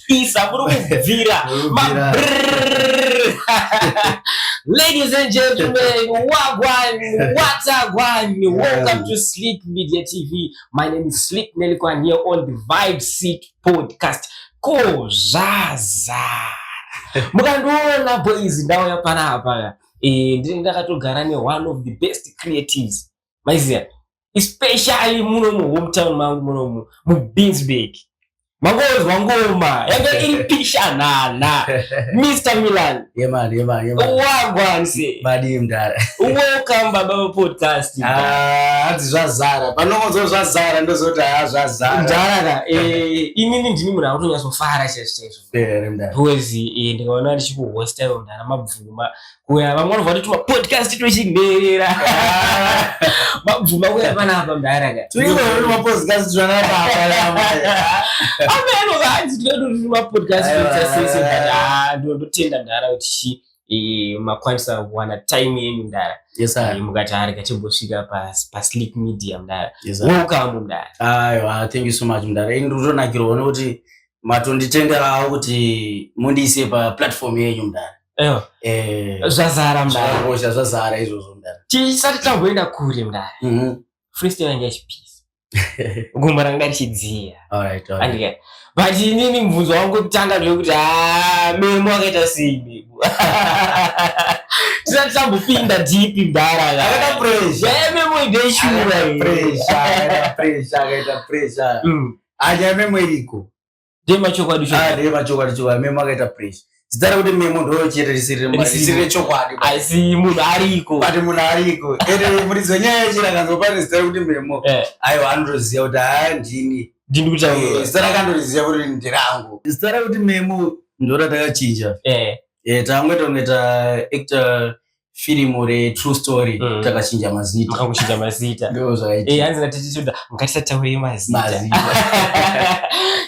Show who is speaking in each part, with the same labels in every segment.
Speaker 1: kupisa kuri kubvira Ladies and gentlemen, wagwan, what's up, one? Welcome to Sleep Media TV. My name is Sleep Nelikwan here on the Vibe Seat Podcast. Kozaza. Mukandiona boys ndauya panapa. Eh, ndiri ndakatogara ne one of the best creatives. Maiziya? especially muno mu hometown mangu muno mu mu Binsburg mangonzwa ngoma yanga iri pishanana Mr Milan yemani yemani yemani
Speaker 2: wagwanse
Speaker 1: badi mdara
Speaker 2: welcome baba
Speaker 1: pa podcast ah adzi
Speaker 2: zvazara panongonzwa zvazara ndozoti ha zvazara mdara ka eh
Speaker 1: inini ndini munhu akutonyaso fara chese chese eh mdara huwezi
Speaker 2: eh ndikaona
Speaker 1: ndichikuhosta yo mdara mabvuma kuya vamwe vanobva vatotuma podcast twechinherera mabvuma kuya panapa mdaraka
Speaker 2: amenokanzi
Speaker 1: tinototuma podcast ndotenda mdara kuti chii Eh, makwanisa kuwana time yenyu mdara yes, eh, mukati
Speaker 2: ari kachimbosvika
Speaker 1: pasleep media mdara yes, wokambo mdara aiwa thank you so
Speaker 2: much mdara ini ndotonakirwa nekuti matonditenderawo kuti mundiise paplatform yenyu mdara eh.
Speaker 1: zvazara mdaraosha zvazara izvozvo
Speaker 2: mdara chisati chamboenda
Speaker 1: kure mdara mhm. freestyle yanga ichipisa gumba ranga richidziya
Speaker 2: but
Speaker 1: inini mubvunzo wangu kutanga ndevekuti ah, memo akaita sei memo tisati tambopinda dipi mdara
Speaker 2: memo ideshura anyamemo iriko Dema chokwadi
Speaker 1: chokwadi. Ah, dema chokwadi chokwadi. Memo
Speaker 2: akaita pressure. Zita rekuti memo ndoo chete risiri risiri chokwadi. Asi munhu
Speaker 1: ariko. Pati munhu ariko.
Speaker 2: Ende muridzi wenyaya yechira kanzwa pane zita rekuti memo. Eh. Aiwa anotoziva kuti haa ah, ndini. Ndini kuti awo. Eh,
Speaker 1: zita rakandoriziva
Speaker 2: kuti ndirangu. Zita rekuti memo ndoo ratakachinja. Eh. Eh tangoita kunge ta actor firimu retrue story mm. takachinja mazita makakuchinja mazita
Speaker 1: eh, hanzi
Speaker 2: natitituda
Speaker 1: ngatisataurei mazita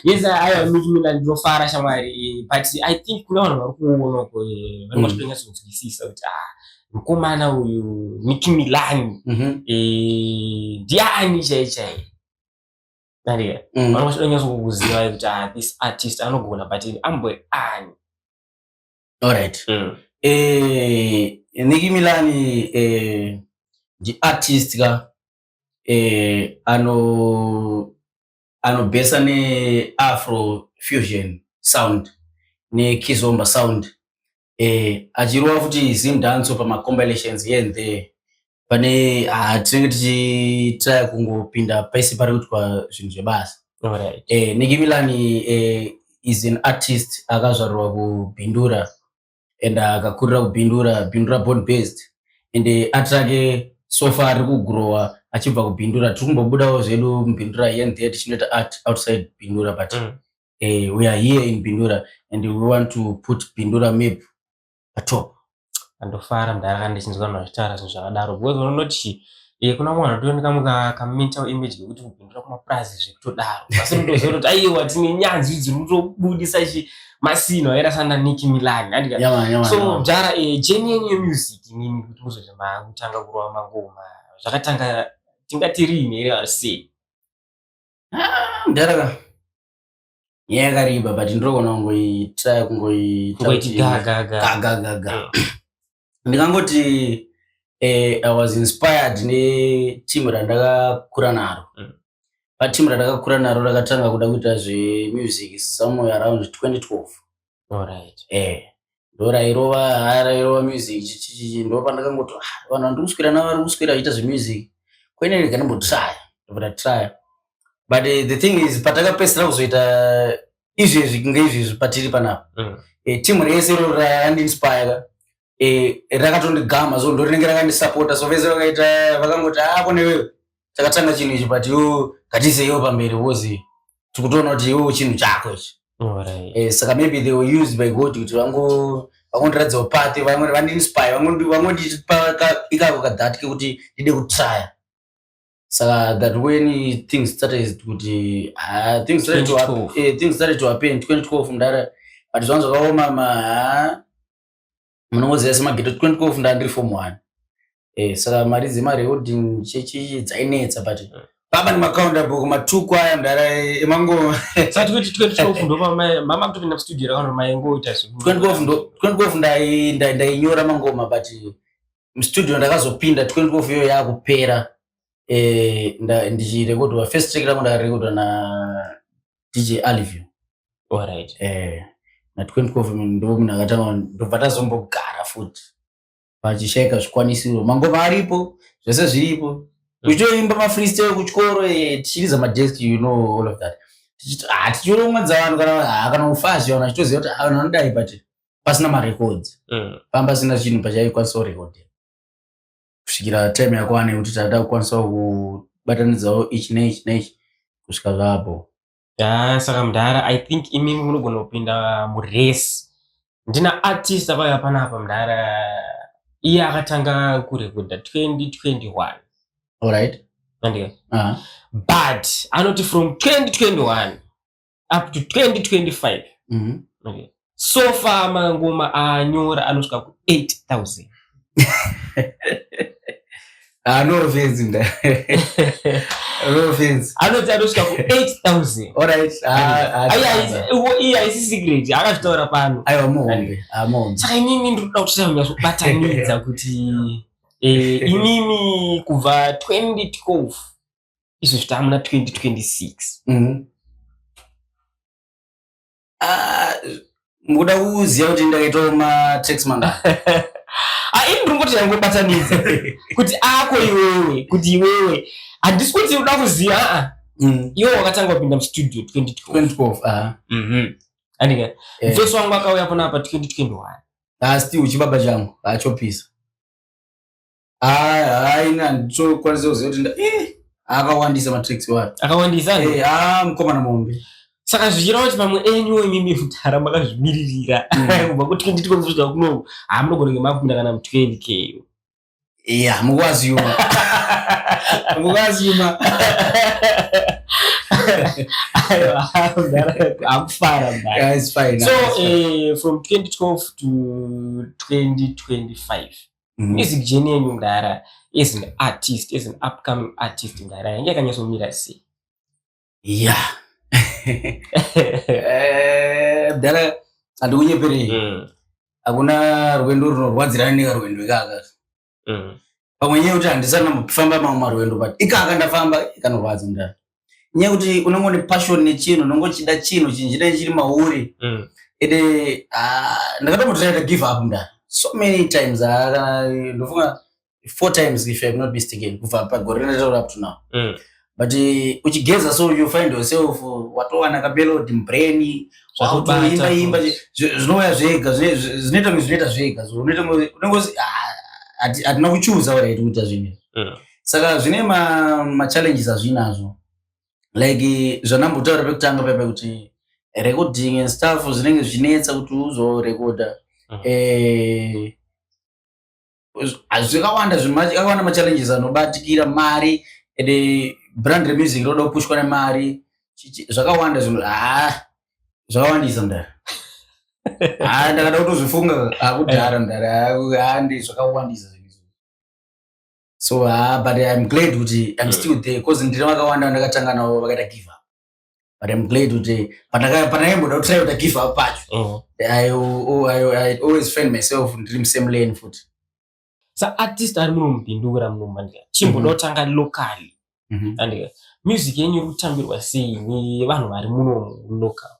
Speaker 1: yes ayo michimina ndinofara shamwari but i think kune vanhu vari kuona uko eh, vanenge vachitonyatsokunzwisisa mm. kuti ah mukomana uyu niki milani mhm. eh, ndiani chai chai nariya mm. vanenge vachitonyatsokukuziva kuti ah this artist anogona but amboe ani
Speaker 2: Alright. Mm. Eh, Nicki Milani eh, ndi artist ka eh, ano anobhesa ne afro fusion sound ne kizomba sound eh, achirova futi zimdanso pama compilations here and there pane ah, tinenge tichitraya kungopinda pese pari kuitwa zvinhu zvebasa right. eh, niki
Speaker 1: milani
Speaker 2: eh, is an artist akazvarwa kubhindura and akakurira kubhindura bhindura born based and eh, art rake sofa ari kugrowa achibva kubhindura tiri kumbobudawo zvedu mubhindura here ndee tichinoita art outside bhindura but mm. eh, we are here in bhindura and we want to put bhindura map patop andofara
Speaker 1: mdara ndichinzwa vanhu vachitaura zvinhu zvakadaro because unoti iye kuna mwana anotooneka mukakamentawo image yekuti kupindura kumapurazi zvekutodaro asi unotoziva kuti aiwa tine nyanzvi dziri kutobudisa chi masino aera sana niki milani so mdara eh, jeni yenyu yemusic inini kuti muzoti makutanga kurova mangoma zvakatanga tingati riini here vasei ah, mdara nyaya
Speaker 2: yakariba but ndinoona kungoita kungoitagagagaga eh. ndikangoti eh, i was inspired neteam randakakura naro mm. pateam randakakura naro rakatanga kuda kuita zvemusic somewhere around 2012 Alright.
Speaker 1: Eh. Ndorairova
Speaker 2: arairova music chichichi ndopandakangoti ah, vanhu vandiri kuswera navo vari kuswera vachiita zvemusic. Kwene rega ndimbotraya. Ndobva try. But uh, the thing is patakapesera kuzoita izvezvi kunge izvezvi patiri panapa. Mm. Eh, team rese roraya and inspire. eh, rakatondigama so ndorinenge rakandisapota so vese vakaita vakangoti ah kune wewe chakatanga chinhu ichi but yo ngatiiseyiwo pamberi wozi tikutoona kuti iwo chinhu chako ichi Alright. Eh, saka maybe they were used by god kuti vango vangondiratidzawo pati vamwe vandiinspire vangondi- vangondipa ka- ikako kadhat kekuti ndide kutrya saka that when things started kuti ah, things started to hap- 2012. eh, things started to happen 2012 mdara but zvangu zvakaoma ma ah, munongoziva semageto 2012 ndandiri form one eh, saka mari dzemari yeholding chechi dzainetsa but eh. baba nemakaunda bhuku matuku aya mdara emangoma sati kuti
Speaker 1: 2012 ndopamama kutopinda studio rakano maingoita 2012
Speaker 2: ndainyora mangoma but mstudio ndakazopinda 2012 iyo yaakupera eh, ndichirekodwa first track rangu ndakarekodwa na dj alivio Alright.
Speaker 1: eh, na
Speaker 2: 20 government ndo munhu akatanga ndobva tazombogara futi pachishaika zvikwanisiro mangoma aripo zvese zviripo kuchitoimba mafreestyle kuchikoro eh, tichiridza madesk you know all of that Tichito- ah, tichiromwedza vanhu kana ah, kana ufazi vanhu achitoziva kuti ah, vanhu vanodai but pasina marecords Mm. pamba pasina chinhu pachaikwanisa kurekodha kusvikira time yakwana yekuti taita kukwanisa kubatanidzawo ichi neichi neichi kusvika zvaapo ya saka
Speaker 1: mudhara i think imimi munogona kupinda muresi ndina artist avaya panapa mudhara iye akatanga kurekodha 2021 alright
Speaker 2: andika uh -huh.
Speaker 1: but anoti from 2021 up to 2025 mm -hmm. okay. so far mangoma aanyora anosvika ku
Speaker 2: 8000 ah, no offense mda no offense anoti anosvika ku 8000
Speaker 1: alright ah,
Speaker 2: ah,
Speaker 1: iye haisi secret akazvitaura pano aiwa muhombe
Speaker 2: muhombe saka inini
Speaker 1: ndiri kuda kuti tanyatsobatanidza kuti eh, inini kubva 2012 izvo zvita muna 2026 mhm.
Speaker 2: ah, mukuda kuziva kuti ndakaitawo matax manda ah,
Speaker 1: ini ndiri kuti yangobatanidza kuti ako iwewe kuti iwewe handisi kuti uda kuziva ah, mm. iwe wakatanga kupinda mustudio 2012 mhm.
Speaker 2: andika
Speaker 1: eh. mfesi wangu akauya kuna pa 2021 asi uchibaba changu
Speaker 2: achopisa haina nditokwanisa kuziva kuti eh, akawandisa matricks wayo akawandisa eh, ah,
Speaker 1: mukomana mombe
Speaker 2: saka zvichireva kuti
Speaker 1: pamwe enyu imimi mudhara makazvimiririra mm. kubva kuti nditi kwekuzvika kuno hamunogona ngemapinda kana mutwendi keyo ya
Speaker 2: mukwaziyuma mukwaziyuma
Speaker 1: akufara so
Speaker 2: uh,
Speaker 1: from 2012 to 2025 Mm. Music journey yenyu mdara as an artist, as an upcoming artist mdara yange yakanyatsomira sei? Yeah.
Speaker 2: Eh, mdara uh, andikunyeperei. Mm. Hakuna rwendo runorwadzirana nekarwendo ikaka. Mm. Pamwe nyaya kuti handisana kufamba mamwe marwendo but ikaka ndafamba ikanorwadza mdara. nyaya kuti unenge une passion nechinhu unenge uchida chinhu chinhu chine chiri mauri mm. ende uh, ndakatombotiraita give up mda so many times ah, ndofunga four times if ive not mistaken kubva pagore rinotaura up to now mm. but eh, uchigeza so you find yourself watowana kamelodi mubrain wakutoimba imba zvinouya zvega zvinoita kunge zvinoita zvega unenge ah, hatina kuchuza waraiti kuita zvinhu izvi mm. saka zvine machallenges ma azvinazvo like zvandambotaura pekutanga paya pekuti recording and stuff zvinenge zvinetsa kuti uzorekoda mm. eh, zvakawanda zvakawanda machallenges anobatikira mari and eh, brand remusic roda kupushwa nemari zvakawanda zvinhu ah, zvakawandisa mdara ah, ndakada kutozvifunga akudhara ah, mdara ah, handi zvakawandisa so uh, but im glad kuti im yeah. still there bcause ndine vakawanda vandakatanga navo vakaita give up but im glad kuti pandakaimboda kutry kuita give up pacho uh-huh. I, oh, I, I, I always find myself ndiri musame lane futi sa
Speaker 1: artist ari muno mupindura muno mandika chimbodotanga mm-hmm. locally mm-hmm. andika music yenyu iri kutambirwa sei nevanhu vari muno local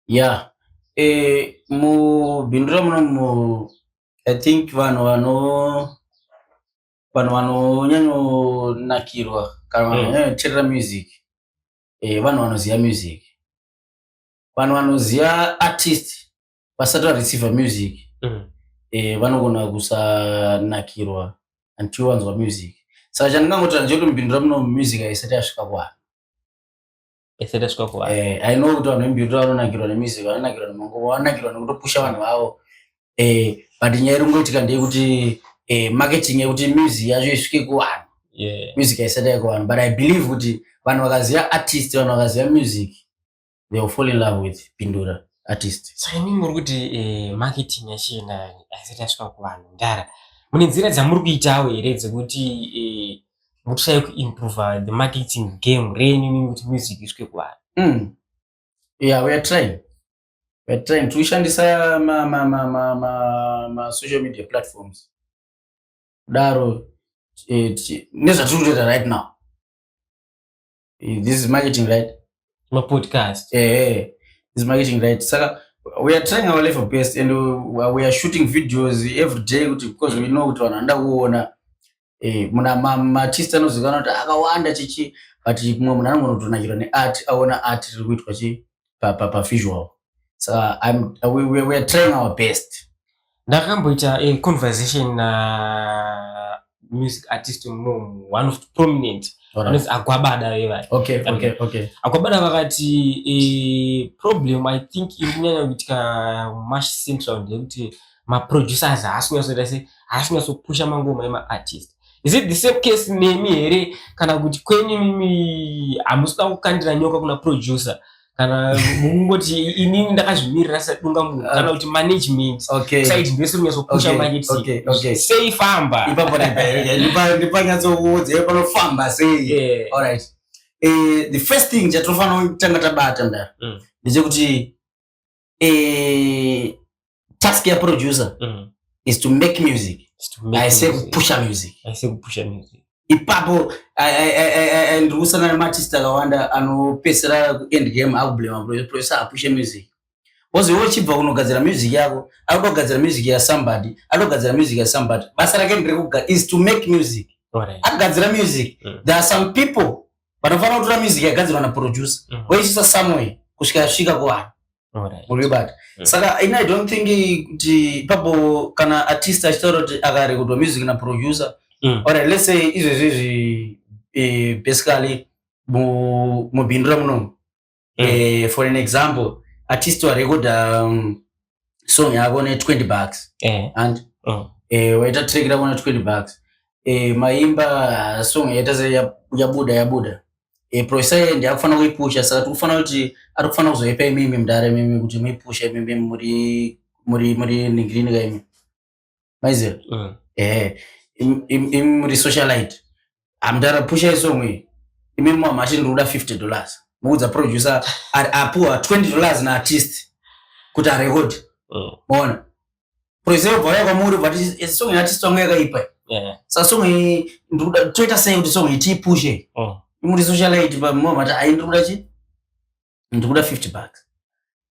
Speaker 1: Yeah.
Speaker 2: Eh, mubindu ramunomu I think vanhu vano vanhu vanonyanyonakirwa kana vanhu Mm. vanonyanyoterera music eh, vanhu vanoziva music vanhu vanoziva artist vasati vareceiva music Mm. eh, vanogona kusanakirwa until wanzwa music saka chandingangoti ndechekuti mubindu ramunomu music haisati yasvika kuvanhu
Speaker 1: esereswa kuvanhu eh, i know kuti vanhu vembiuta
Speaker 2: vanonakirwa nemusic vanonakirwa nemanguva vanonakirwa nekutopusha vanhu vavo eh, but nyaya iri kungoitika ndeyekuti eh, marketing yekuti music yacho isvike kuvanhu yeah. music haisati yake kuvanhu but i believe kuti vanhu vakaziva artist vanhu vakaziva music they will fall in love with pindura artist saka imi muri kuti
Speaker 1: eh, marketing yachina haisati yasvika kuvanhu ndara mune nzira dzamuri kuitawo here dzekuti eh, mutisai kuimprova the marketing game renyu nini kuti music isvike kuvanhu mm. yeah,
Speaker 2: weare trying weare trying tikushandisa masocial media platforms kudaro eh, nezvatiri kutoita right now Eh, this is marketing right mapodcast
Speaker 1: eh, eh. this
Speaker 2: is marketing right saka we are trying our level best and we, we are shooting videos every day kuti because we know kuti vanhu vanoda kuona eh, muna maartist anozikana kuti akawanda chichi but mumwe munhu anongonotona chiro neart aona art riri kuitwa chii pa, pa, pa visual so I'm, we, we, we are trying our best ndakamboita
Speaker 1: a conversation na uh, music artist mum one of the prominent anonzi agwabada vevai okay, okay, okay.
Speaker 2: agwabada
Speaker 1: vakati e, problem i think iri kunyanya kuitika mash central ndeyekuti maproducers haasi kunyatsoita se haasi kunyatsopusha mangoma emaartist is it the same case nemi here kana kuti kwenyu mimi hamusida kukandira nyoka kuna producer kana mungoti inini ndakazvimirira sadunga munhu uh, kana kuti management saiti ndese rinyatsopusha marketing sei famba
Speaker 2: ndipanyatsokuudza panofamba sei eh, the first thing chatinofanira kutanga tabata ndara mm. ndechekuti eh, task ya producer mm. is to make music aise kupusha music aise kupusha music ipapo ndirikusanana nematist akawanda anopesera kuend game akublema producer apushe music bcause iwe uchibva kunogadzira music yako akuda kugadzira music ya somebody akuda kugadzira music ya somebody basa rake ndirekuga is to make music akugadzira music mm. there are some people vanofanira kutora music yagadzirwa na producer mm. voisisa somewhere kusvika yasvika kuvanhu muribata mm. saka ini i don't think kuti papo kana artist achitaura kuti akarekordwa music na producer mm. or let's say izvezvi izvi eh, basically mubhindura munomu mm. eh, for an example artist warekoda um, song yako ne 20 bucks eh. and mm. eh, waita track rako ne 20 bucks eh, maimba uh, song yaita se yabuda ya yabuda eh, profesa yeye ndiye akufanira kuipusha saka tikufanira kuti ari kufanira kuzoipa imimi mdare mimi kuti muipusha imimi muri muri muri ningiriniga imi maiziva mm. eh, imi muri socialite amdara pusha isong iyi imi mamati ndikuda 50 dollars muudza producer apuwa 20 dollars naartist kuti arekodi mm. maona mm. producer obva vaya kwamuri but eh, song yeartist wangu yakaipa yeah. sa song iyi ndikuda toita sei kuti song iyi tiipushe mm. imuri socialite mamati aindikuda chii ndikuda 50 bucks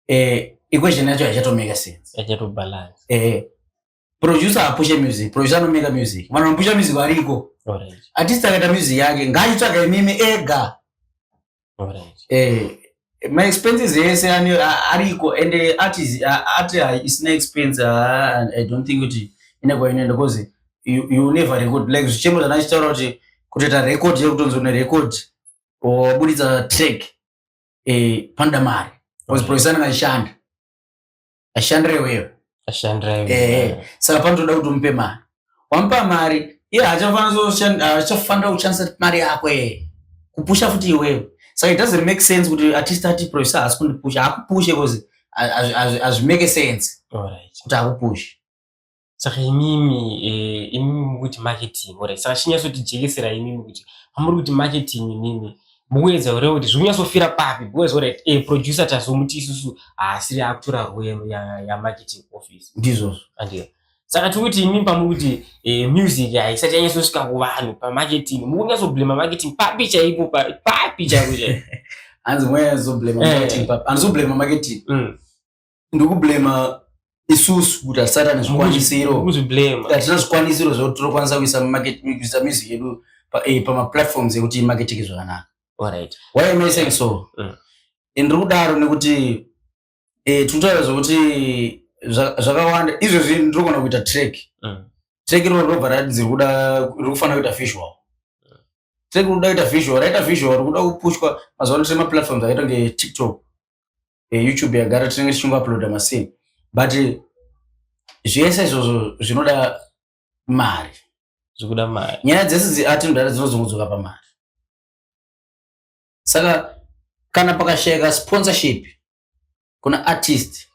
Speaker 2: eh equation yacho haichato make sense haichato balance eh
Speaker 1: producer
Speaker 2: apushe music producer anomeka music vanhu vanopusha music variko artist akaita music yake ngaitsvaga imimi ega eh, ma expenses ese ariko and artist ati isina expense i don't think kuti ine kwainoenda because you, you never record like zvichemo zvana chitaura kuti kutoita record yekutonzi une record waburitsa track eh panda mari because producer anga ashanda ashandire wewe ashandire wewe eh, eh saka panotoda kuti umpe mari wampa mari iye hachafanira hachafanira kushandisa mari yako eh kupusha futi iwewe saka it doesn't make sense kuti artist ati producer haasi kundipusha hakupushe because as as as make sense all right kuti hakupushe saka
Speaker 1: imimi eh, imimi mukuti marketing ore saka chinyatsotijekesera imimi kuti pamuri kuti marketing imimi mukuedza ure kuti zviri kunyatsofira papi because ore e eh, producer tazomuti isusu haasiri ah, akutora rwero yamarketing office ndizvozvo andiyo
Speaker 2: saka
Speaker 1: tiri kuti imimi pamuri kuti eh, music haisati yanyatsosvika kuvanhu pamarketing mukunyatsoblema marketing papi chaipo papi chaipo chaipo hanzi mweya
Speaker 2: zoblema marketing papi anozoblema marketing mm. ndikublema isusu kuti hatisati ane zvikwanisiro hatina zvikwanisiro zvekuti tinokwanisa kuisa kuisa music yedu eh, pamaplatforms ekuti imaketike zvakanaka why am
Speaker 1: i saying so mm.
Speaker 2: and ndiri kudaro nekuti eh, tinotaura zvekuti zvakawanda izvezvi ndiri kugona kuita track mm. track iroro robva ratinzi riri kufanira kuita visual mm. track riri kuda kuita visual raita visual riri kuda kupushwa mazuva ano tine maplatforms akaita kunge tiktok eh, youtube yagara tinenge tichingouploada masini but zvese izvozvo zvinoda mari zvikuda
Speaker 1: mari nyaya dzese dziatinodara
Speaker 2: dzinozongudzoka pamari saka kana pakashayika sponsorship kuna artist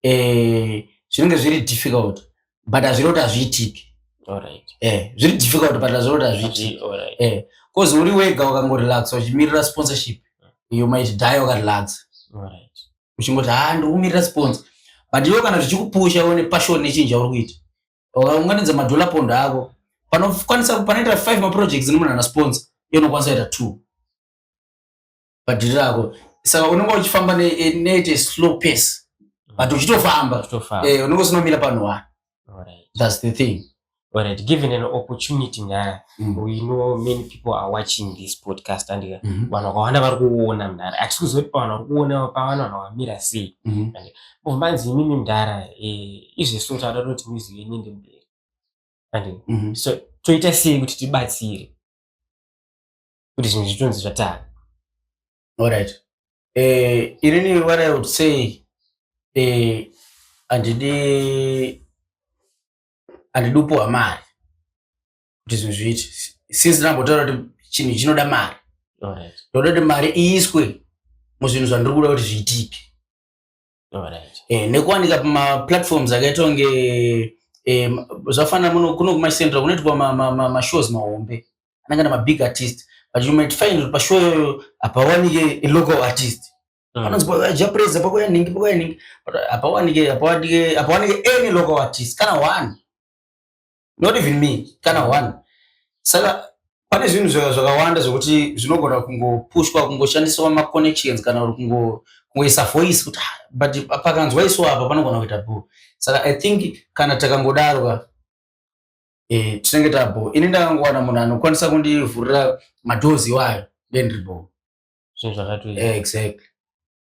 Speaker 2: eh, zvinenge zviri difficult but hazviri kuti hazviitiki eh, zviri difficult but hazviri kuti hazviitiki eh, bcause uri wega wakangorelaxa uchimirira sponsorship you might die wakarelaxa uchingoti ha ah, ndikumirira sponsor but iwo kana zvichikupusha one passion nechinji chauri kuita ukaunganidza madollar pond ako panokwanisa panoita five maprojects nemunhu ana sponsor iyo unokwanisa kuita two padhiri rako saka unenge uchifamba neite slow pace mm. but uchitofamba eh, unenge usinomira panhu wani thats the thing Alright, given an
Speaker 1: opportunity nyaya mm. we know many people are watching this podcast and mm -hmm. vanhu vakawanda vari kuona mdara atisi kuzoti pavanhu vari kuona pavanhu vanhu vamira sei mm -hmm. and oh, manzi imimi mdara eh, izvesu tavada toti mizi yenyu ndi mberi and mm -hmm. so toita sei kuti tibatsire kuti zvinhu zvitonzi zvatari
Speaker 2: alright uh, eh, irini what i would say uh, andidi andidi upuwa mari kuti zvinhu zviite since ndambotaura kuti chinhu chinoda mari ndoda kuti mari iiswe muzvinhu zvandiri kuda kuti zviitike eh, nekuwanika pamaplatforms akaita kunge eh, zvafanira muno kuno kumacentral kunoitwa mashows mahombe anenge na mabig artist but you might find kuti pashow iyoyo hapawanike local artist mm. anonzi japreza pakuya ningi pakuya ningi but hapawanike hapawanike any local artist kana one not even me kana one saka pane zvinhu zvakawanda zvekuti zvinogona kungopushwa kungoshandiswa maconnections kana uri kungoisa voice kuti ah, but pakanzwa isu apa panogona kuita bho saka i think kana takangodarwa eh, tinenge tabho ini ndakangowana munhu anokwanisa kundivhurira madhozi iwayo then ribho so zvakatoita
Speaker 1: eh, exactly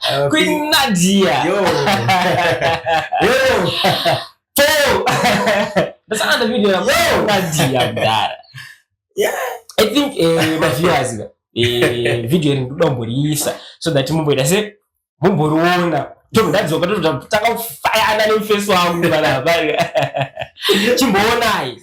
Speaker 1: Uh, Queen Nadia.
Speaker 2: Yo. Yo. Four.
Speaker 1: That's another video. Yo. Queen Nadia mdara. Yeah.
Speaker 2: I think
Speaker 1: eh my viewers eh video iri ndomboriisa so that mumboita se mumboriona. Tom ndadzoka totanga kufayana neface wangu kana hapana. Chimboonai.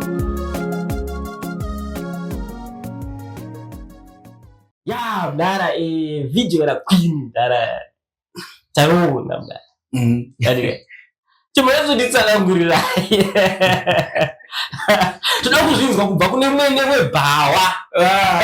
Speaker 1: ya mdara e, video la queen mdara taona mdara mm. yani chimwezo nditsanangurira toda kuzvinzwa kubva kune mwene webhawa
Speaker 2: ah,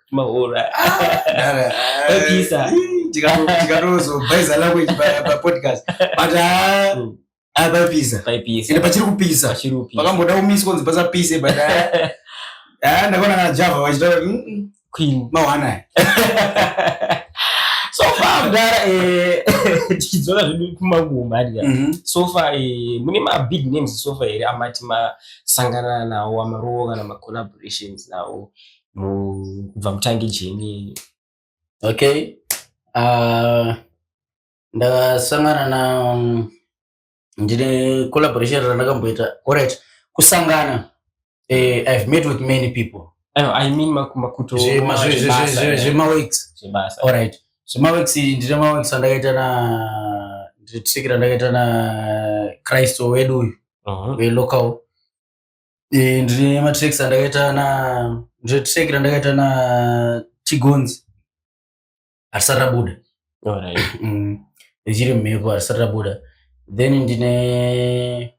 Speaker 2: maura
Speaker 1: okisa tikarozobhaiza
Speaker 2: language papodcast but ah, mm. ah, paipisa ende pachiri kupisa pakamboda kumisi konzi pasapise but ah, ndakaona kana java vachitaura mm, mm. queen
Speaker 1: mawanaya so far mdara eh, tichidzora zvedu kumaguma adya mhm. so far eh, mune mabig names so far here amati masangana nawo amarowo kana macollaborations nawo kubva mutangi jeni okay
Speaker 2: uh, ndakasangana na um, ndine collaboration randakamboita orit kusangana eh, i've met with many people i mean
Speaker 1: makuto zvemaweeks
Speaker 2: orit
Speaker 1: zvemaweeks
Speaker 2: ndine maweeks andakaita na ndine tsikira ndakaita na christo wedu uyu uh-huh. welocal Eh, ndine matracks andakaita na ndine track randakaita na chigonzi harisati rabuda Alright.
Speaker 1: Mm.
Speaker 2: richiri mumhepo harisati rabuda then ndine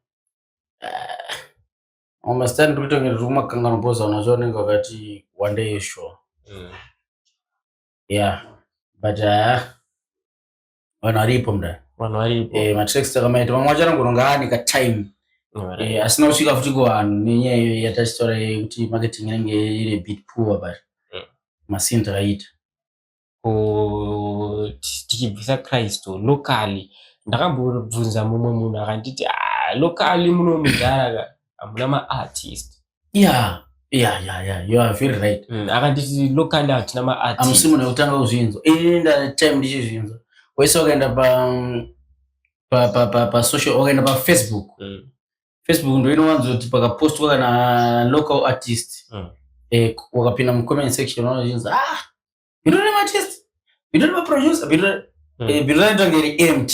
Speaker 2: ah, mastani ndiri kutonge ndiri kumakangano boza unacho unenge wakati wandei sure Mm. yeah but ah, vanhu varipo mda vanhu varipo eh matracks takamaita vamwe vacho anongoronga ani ka time eh asina kusvika futi kuvanhu nenyaya iyo yatachitora yekuti marketing inenge iri bit poor but mm. masini takaita
Speaker 1: tichibvisa kristu locally ndakambobvunza mumwe munhu akanditi ah, locally muno mudhara ka hamuna maartist yeah
Speaker 2: yeah yeah yeah you are very right mm, akanditi locally
Speaker 1: hatina maart amusi munhu wekutanga kuzvinzwa
Speaker 2: ini ndatime ndichizvinzwa wese wakaenda pa pa pa pa pa social wakaenda pa facebook mm. facebook ndo inowanzo kuti pakapostwa kana local artist mm. eh, wakapinda mu comment section unozvinzwa ah bhiro rematest bhiro remaproducer bhiro hmm. eh, bhiro raita kunge reempt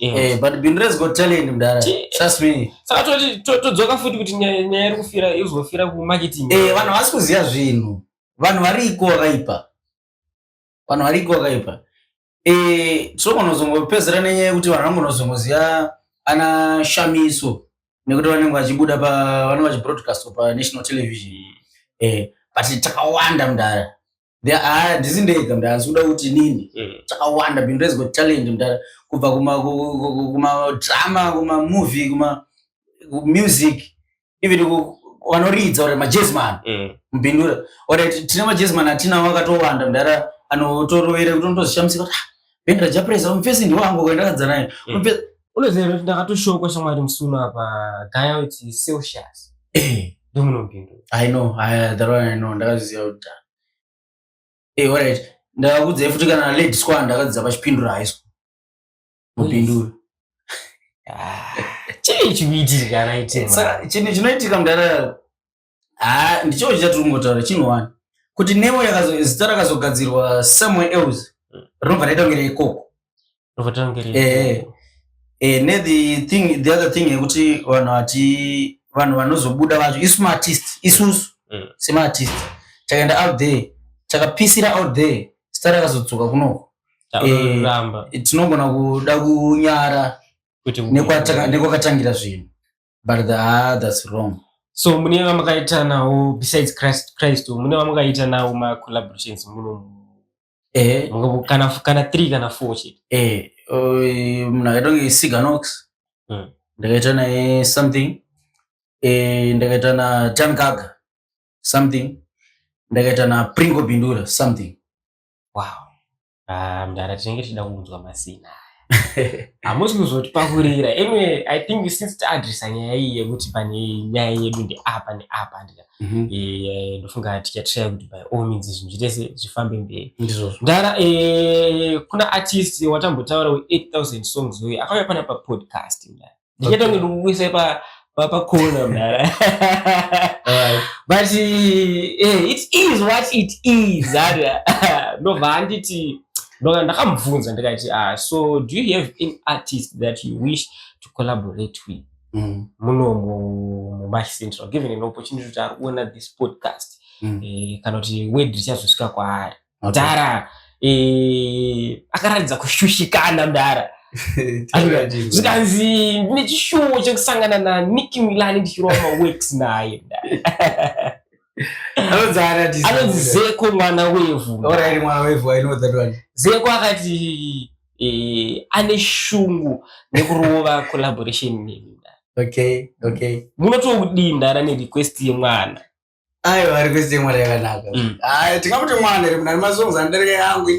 Speaker 2: eh, but bhiro rezgot talent mdara trust me saka toti todzoka
Speaker 1: futi kuti nyaya iri kufira izofira kumarketing eh, vanhu havasi kuziva
Speaker 2: zvinhu vanhu variko vakaipa vanhu variko vakaipa eh sokonozongopedzera nenyaya yekuti vanhu vangonozongoziva ana shamiso nekuti vanenge vachibuda pa vanenge vachibroadcast pa national television eh but takawanda mdara There are- handisi ndega mdara ndisikuda kuti inini Mm. takawanda bindu reziko talent mdara kubva kuma ku- ku- ku- kumadrama kumamovie kuma music even vanoridza or majesman mm. mubindura or tine majesman atinawo akatowanda mudhara anotorovera kuti unotozishamisika kuti ah, bhenda rajapresa mufesi ndiwo angu kwendakadza naye mm. unoziva kuti
Speaker 1: ndakatoshokwa shamwari musuno apa gaya kuti celsius eh. ndomunopindura i know
Speaker 2: that one i know ndakazviziva kuti eh, alright ndakakudzai futi kana lady square ndakadzidza pachipindura high school mupindura ah,
Speaker 1: chii chikuitika raitesaka chinhu chinoitika
Speaker 2: mudara ha ah, ndichoo chichati ringotaura chinhu wani kuti nemo zita rakazogadzirwa somewhere else hmm. rinobva raita kunge reikoko eh, eh, ne the thing the other thing yekuti vanhu vati vanhu vanozobuda vacho isu maartist isusu mm. semaartist takaenda out there takapisira out there zita rakazodzoka kunoko eh, tinogona kuda kunyara nekwakatangira zvinhu but the, ah, that's wrong so mune
Speaker 1: vamakaita nawo besides christ christ mune vamakaita nawo macollaborations muno eh. kana kana three kana four chete eh, eh, munhu
Speaker 2: akaita kunge siganox hmm. ndakaita naye something eh, ndakaita na tankaga something ndakaita na pringo bindura something wow ah
Speaker 1: mdara tinenge tichida kunzwa masina hamusi kuzotipakurira anyway i think since taadresa nyaya iyi yekuti pane nyaya yedu ndeapa neapa ndida mhm. eh, ndofunga tichatraya kuti by all means zvinhu zvitese zvifambe mberi ndara eh, kuna artist watambotaura we 8000 songs uye akauya pana papodcast ndara ndichatonge ndikukuisa pa papakhona mdara but eh, it is what it is ara ndobva handiti ndoka ndakamubvunza ndikati ah so do you have an artist that you wish to collaborate with mm. muno mumash central given an opportunity kuti ari kuona this podcast mm. eh, kana kuti word richazosvika kwaari mudhara eh, akaratidza kushushikana mudhara zvikanzi ndine chishuwo chekusangana nanicki milani ndichirova maworks naye anonzi zeko mwana wevhu
Speaker 2: zeko akati
Speaker 1: eh, ane shungu nekurova collaboration neni okay okay
Speaker 2: munotokudii
Speaker 1: ndara nerequest yemwana ayo vari
Speaker 2: kuziva mwana yakanaka mm. ayo tingamuti mwana iri munani masongs andarika yangu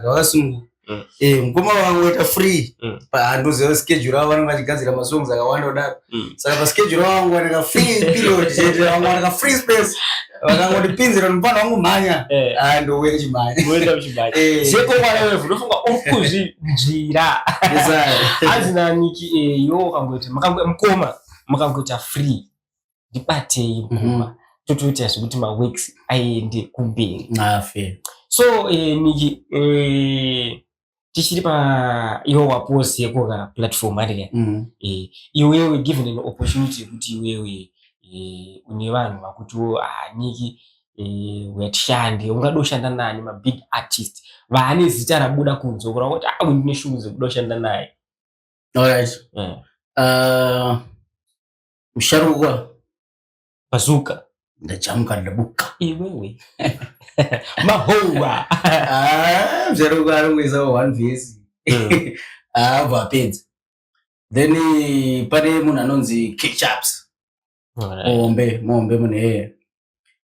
Speaker 2: inaaamukoma wangu waita free mm. paandoziva schedule avo vanenge vachigadzira masongs akawanda kudaro mm. saka paschedule wangu wanaka free period chete wangu wanaka free space vakangoti pinzira mupana wangu mhanya eh. ah, ndouya chimhanya eh.
Speaker 1: zvekokwanaevunofunga uri kuzvinzvira hanzi naniki eyo eh, ukangoita mukoma mukangoita free ndibatei mukoma mhm. totoita zvekuti maworks aende kumberi
Speaker 2: so
Speaker 1: niki tichiri pa iwe wapost yeko ka platform ari ka mm. eh, iwewe given an opportunity yekuti iwewe eh, une vanhu vakutiwo ah, niki eh, wetishande ungada ushanda nani mabig artist vaane zita rabuda kunze ukura kuti ah, ndine shungu dzekuda ushanda naye alright
Speaker 2: yeah. uh, musharukwa
Speaker 1: Bazooka. Ndachamuka
Speaker 2: ndabuka. Iwewe.
Speaker 1: Mahowa. Ah,
Speaker 2: mzero kwaro ngweza one vs. Hmm. Ah, vapedza. Then eh, pane munhu anonzi Ketchups. Mombe, mombe mune here.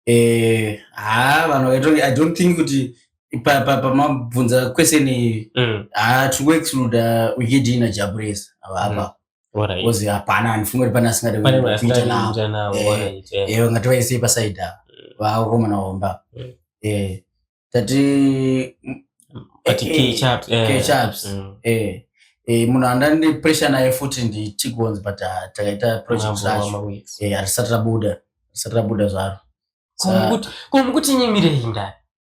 Speaker 2: Eh, ah, vanhu vakaita I don't think kuti pamabvunza pa, pa, kwese ni mm. ah, tikuexcluda wikidina jabulesa avapa. Mm. kozi hapana handifunge kuti pane asingadakuita navo ewe ngati vaisei pasaidi ava mm. vakomana vomba mm. eh, tati kechaps munhu andandi pressure naye futi ndichigonzi but ah, takaita project zvacho eh, hatisati rabuda hatisati rabuda zvaro
Speaker 1: komukuti nyimirei ndani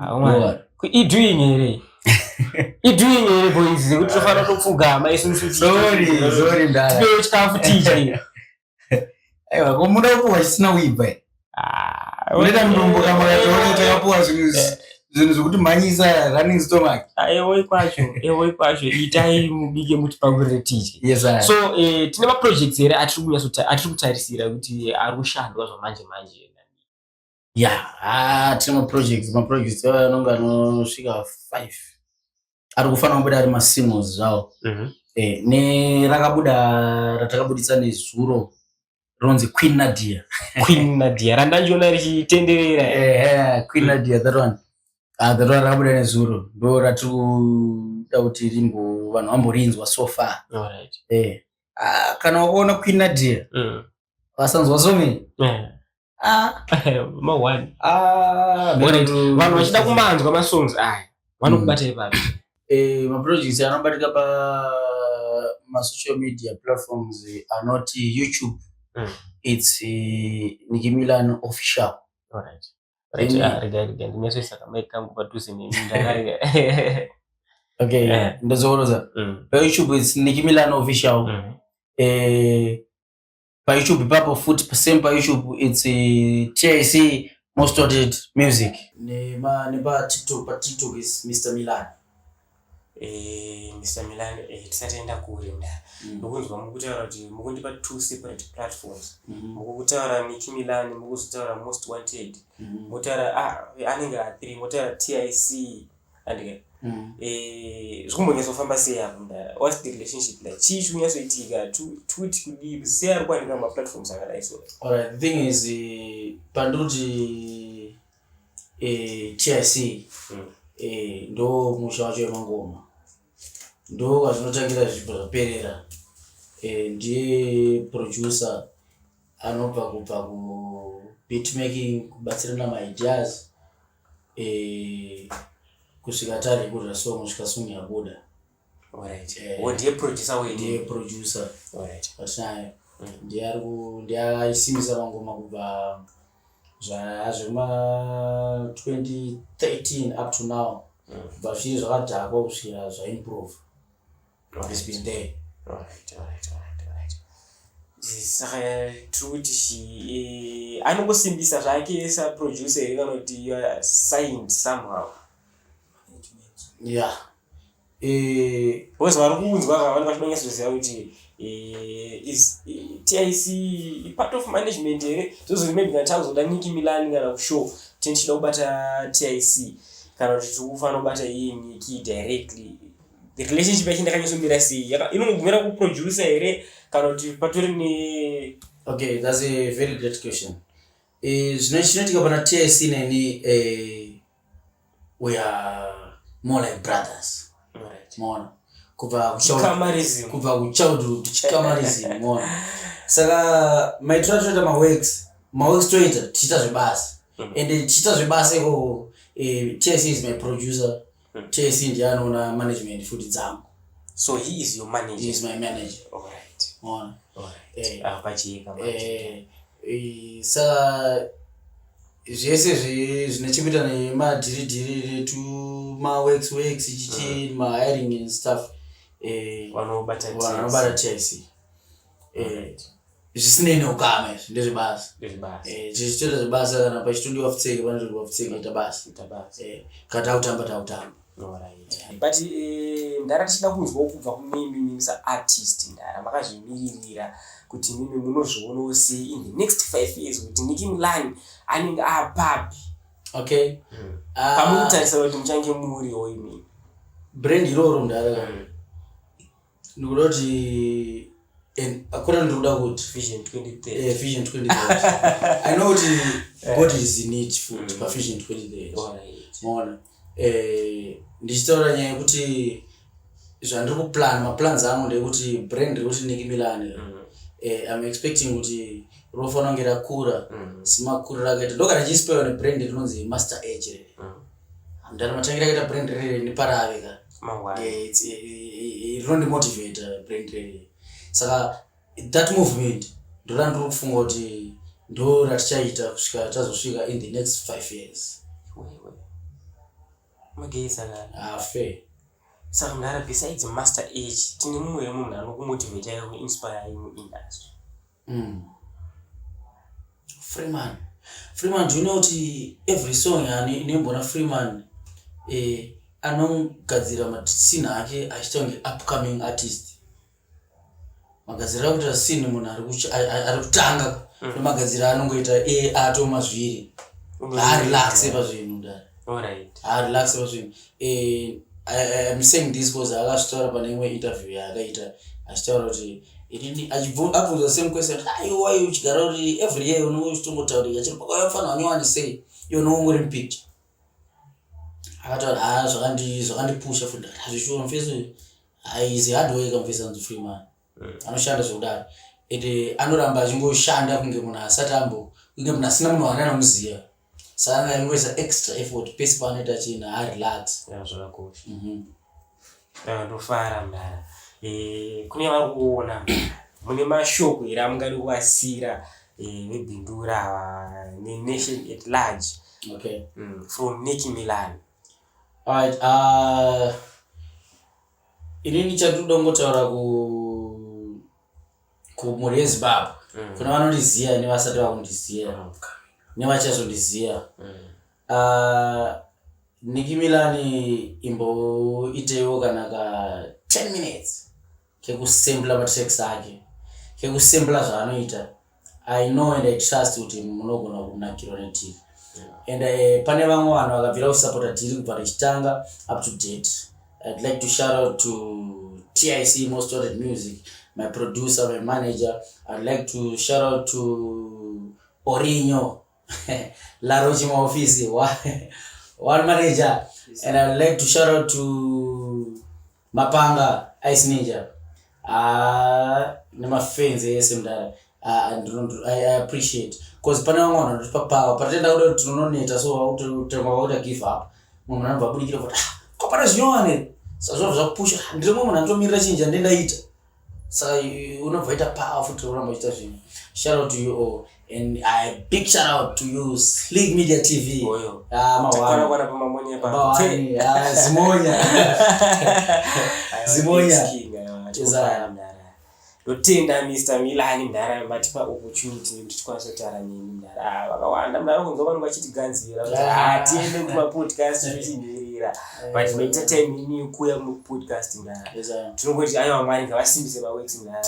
Speaker 1: ah,
Speaker 2: idoing here
Speaker 1: idoing here boys zekuti tofanira topfugama isusuipewo
Speaker 2: chikafu tiche aiwa ko muda kupuwa chisina kuibva ah, unoita mudumbu kamakatoona takapuwa zvinhu zvinhu zvekuti mhanyisa running stomach ah, eoi kwacho
Speaker 1: eoi kwacho itai mubike muti pakurire tiche yes, so eh,
Speaker 2: tine
Speaker 1: maprojects here atiri kutarisira kuti ari kushandwa zvamanje manje ya ah,
Speaker 2: tine maprojects maprojects aya anonge anosvika five ari kufanira kubuda ari masingles zvawo mhm. eh, nerakabuda ratakabuditsa nezuro ronzi queen nadia queen nadia randandiona
Speaker 1: richitenderera eh, eh, queen nadia that
Speaker 2: one ah, that one rakabuda nezuro ndo ratiri kuda kuti rimbo vanhu vamborinzwa so far ah,
Speaker 1: kana
Speaker 2: wakaona queen nadia mm. vasanzwa somei Ah.
Speaker 1: mahwani ah, vanhu vachida kumanzwa masongs aya vanokubatai hmm. papi eh, maprojects
Speaker 2: anobatika pa masocial media platforms anoti youtube mm. its uh, eh, nikimilan official right.
Speaker 1: Right. Then, ah, rega rega ndinyasoisa kamai kangu padhuze nemi ndakarega okay
Speaker 2: yeah. ndozooroza mm. pa youtube its nikimilan official mm. eh, payoutube ipapo futi same payoutube its tic most wanted music nepatiktok patiktok is mr milan Eh,
Speaker 1: Mr. Milan eh, tisataenda kure mdara mm. mukunzwa mukutaura kuti mukundipa two separate platforms mm-hmm. mukutaura Nicky Milan mukuzotaura Most Wanted mm-hmm. motaura ah, anenge a three motaura TIC andike mm. eh, zvikumbonyatsofamba sei apo mdara whats the relationship like chii chikunyatsoitika twit kudii kusei ari kuwanika mumaplatforms akadai so alright thing is
Speaker 2: eh, pandoti eh, chic mm. ndo musha wacho wemangoma ndo kwazvinotangira zvipo zvaperera ndiye producer anobva kubva kubitmaking kubatsirana maideas Eh, kusvika tari kurira so musvika song yabuda Alright.
Speaker 1: Eh. Wo ndiye producer wenyu. ndiye producer
Speaker 2: Alright. patinayo
Speaker 1: Mm.
Speaker 2: ndiye ari ku- ndiye aisimbisa mangoma kubva zva- zvema 2013 up to now Mm. kubva zviri zvakadhakwa kusvira zvaimprove It's been there. Alright,
Speaker 1: alright, alright, alright. Saka tiri kuti shi eh, anongosimbisa zvake saproducer here kana kuti you are signed somehow.
Speaker 2: Yeah. Eh,
Speaker 1: Because vari kunzwa ava vanenge vachida kunyatsoziva kuti eh, is eh, TIC i part of management here zvozozi maybe kana takuzoda Nicki Milan kana kushow tini tichida kubata TIC kana kuti tiri kufanira kubata iye Nicki directly the relationship yacho ndakanyosomira sei inongogumira kuproducer here kana kuti patori ne okay thats a
Speaker 2: very great question eh, zvino chinoitika pana tsc neni eh, we are more like brothers mona
Speaker 1: kubva
Speaker 2: kubva
Speaker 1: kuchildhood chikamarism
Speaker 2: mona saka maitiro atoita maworks maworks toita tichiita zvebasa mhm. and tichiita zvebasa ikoko eh, tsc is my producer Hmm. JC ndiye anoona management futi dzangu. So he is
Speaker 1: your manager. He is my manager. All
Speaker 2: right. Mona. All right. Eh. Ah,
Speaker 1: pachiyeka eh,
Speaker 2: manje. Eh. Eh, sa zvese zvine chekuita nemadhiridhiri tumaworks works chichi mm. mahiring and stuff eh, vanobata tic eh, zvisinei neukama izvi ndezvebasa eh, zvichitora zvebasa kana pachitodiwa pfutseke panotodiwa pfutseke ita basa eh, kana takutamba takutamba but
Speaker 1: ndara tichida kunzwawo kubva kunemi mimi saartist ndara makazvimiririra kuti mimi munozvionawo sei in the next five years kuti niki mulani anenge apapi okay
Speaker 2: hmm. ah. pamuri
Speaker 1: kutarisa kuti muchange muriwo imini brand
Speaker 2: iroro ndara hmm. ndikuda kuti akuna ndikuda kuti vision 2030
Speaker 1: eh, vision
Speaker 2: 2030 i know kuti eh. god is in it food mm. pa vision 2030 maona eh, ndichitaura nyaya yekuti zvandiri kuplan maplans angu ndekuti brand rekuti niki milan mm. eh, i'm expecting kuti rofanira kunge rakura mm. simakuriro akaita ndokana chispaiwa nebrand rinonzi master age mm. Ndani matangira kaita brand rere ni parave ka. Mangwana. Eh, it's eh, eh, eh, rinondi motivate uh, brand rere. Saka that movement ndoda ndiri kufunga kuti ndo ratichaita kusvika tazosvika in the next five years. Wewe. Mageza
Speaker 1: ka. Ah, fair.
Speaker 3: Saka mdara
Speaker 1: besides master age tine mumwe munhu anokumotivate ayo inspire ayo industry. Mm.
Speaker 3: Freeman. Freeman, do you know kuti every song yani inoimbona Freeman eh, anogadzira matsini ake achiita kunge upcoming artist. Magadzira akuita sini munhu ari kuch- ari- ari- ari kutanga nemagadzira anongoita eh, atoma zviri. Haarelaxe pazvinhu dai. Alright. Haarelaxe
Speaker 1: pazvinhu.
Speaker 3: eh, I'm saying this because akazvitaura pane imwe interview yaakaita achitaura kuti inini abvunza same question aiwa ah, uchigara uri every year unenge uchitongotaurika chiri pakauya mfana wanyowani sei iwe unenge ungori mupicture akataura ha ah, zvakandipusha futi hazvishuwa mfesi uyu aizi hardware kamfesi anzi free man anoshanda zvekudaro and eh, anoramba achingoshanda kunge munhu asati ambo kunge munhu asina munhu waana anomuziva saka aingoisa extra effort pese paanoita china arelax
Speaker 1: zvakakosha mhm. ndofara mdara eh, kune vari kuona mune mashoko here amungadi kuvasira eh, vebindura nenation at large okay.
Speaker 3: mm, from nicky
Speaker 1: milan right, uh,
Speaker 3: inini chatinoda kungotaura ku kumhuri yezimbabwe mm. kuna vanondiziva nevasati vakundiziva mm. nevachazondiziva mm. uh, ah, niki milani imboiteiwo kana ka 10 minutes kekusembla matex ake kekusembla zvaanoita I know and I trust kuti munogona kunakirwa netv and uh, pane vamwe vanhu vakabvira kusapota tiri kubva tichitanga up to date i'd like to shout out to tic most started music my producer my manager i'd like to shout out to orinyo Laro Chimaofisi, one manager. And I would like to shout out to Mapanga Ice Ninja. Ah, nema fans ese mdara. Ah, and I, I appreciate. Cause pane vamwe vanhu vanotipa power. Patenda kuda kuti tinononeta so vakutemwa vakuda give up. Mumwe anobva abudikira kuti ah, kopana zvinyowani. Sazvo zvakupusha. Ndiri mumwe anotomirira chinja ndendaita. saka unobvaita power futi oramba uchiita zvinhu shout out to you all and i big shout out to you sleek media tv oyo ah mawara kwa
Speaker 1: pa mamonya pa mawani ah zimonya zimonya tezara ndotenda mr milani mdara matipa opportunity nekuti tikwanisa kutaura neni mdara ah, vakawanda mdara kunzwa vanhu vachitiganzira kuti ah, ah. tiende kumapodcast zvichimhirira but eh. maita time ini yekuuya mupodcast ndaa tinongoti aiwa mwari ngavasimbise maweksi ndaa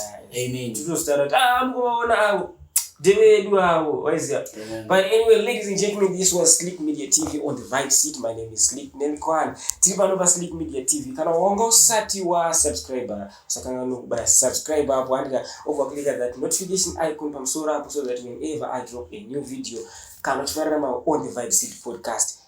Speaker 1: tinozotaura
Speaker 3: kuti a ah,
Speaker 1: mukuvaona avo ndevedu avo waiziva but anyway ladies and gentlemen this was sleep media tv on the vibe seat my name is sleep nelkwan tiri pano pasleep media tv kana wanga usati wasubscriber usakanganokubaya subscribe apo andika overclicka that notification icon pamusoro apo so that whenever i drop a new video kana tifarira ma on the vibe seat podcast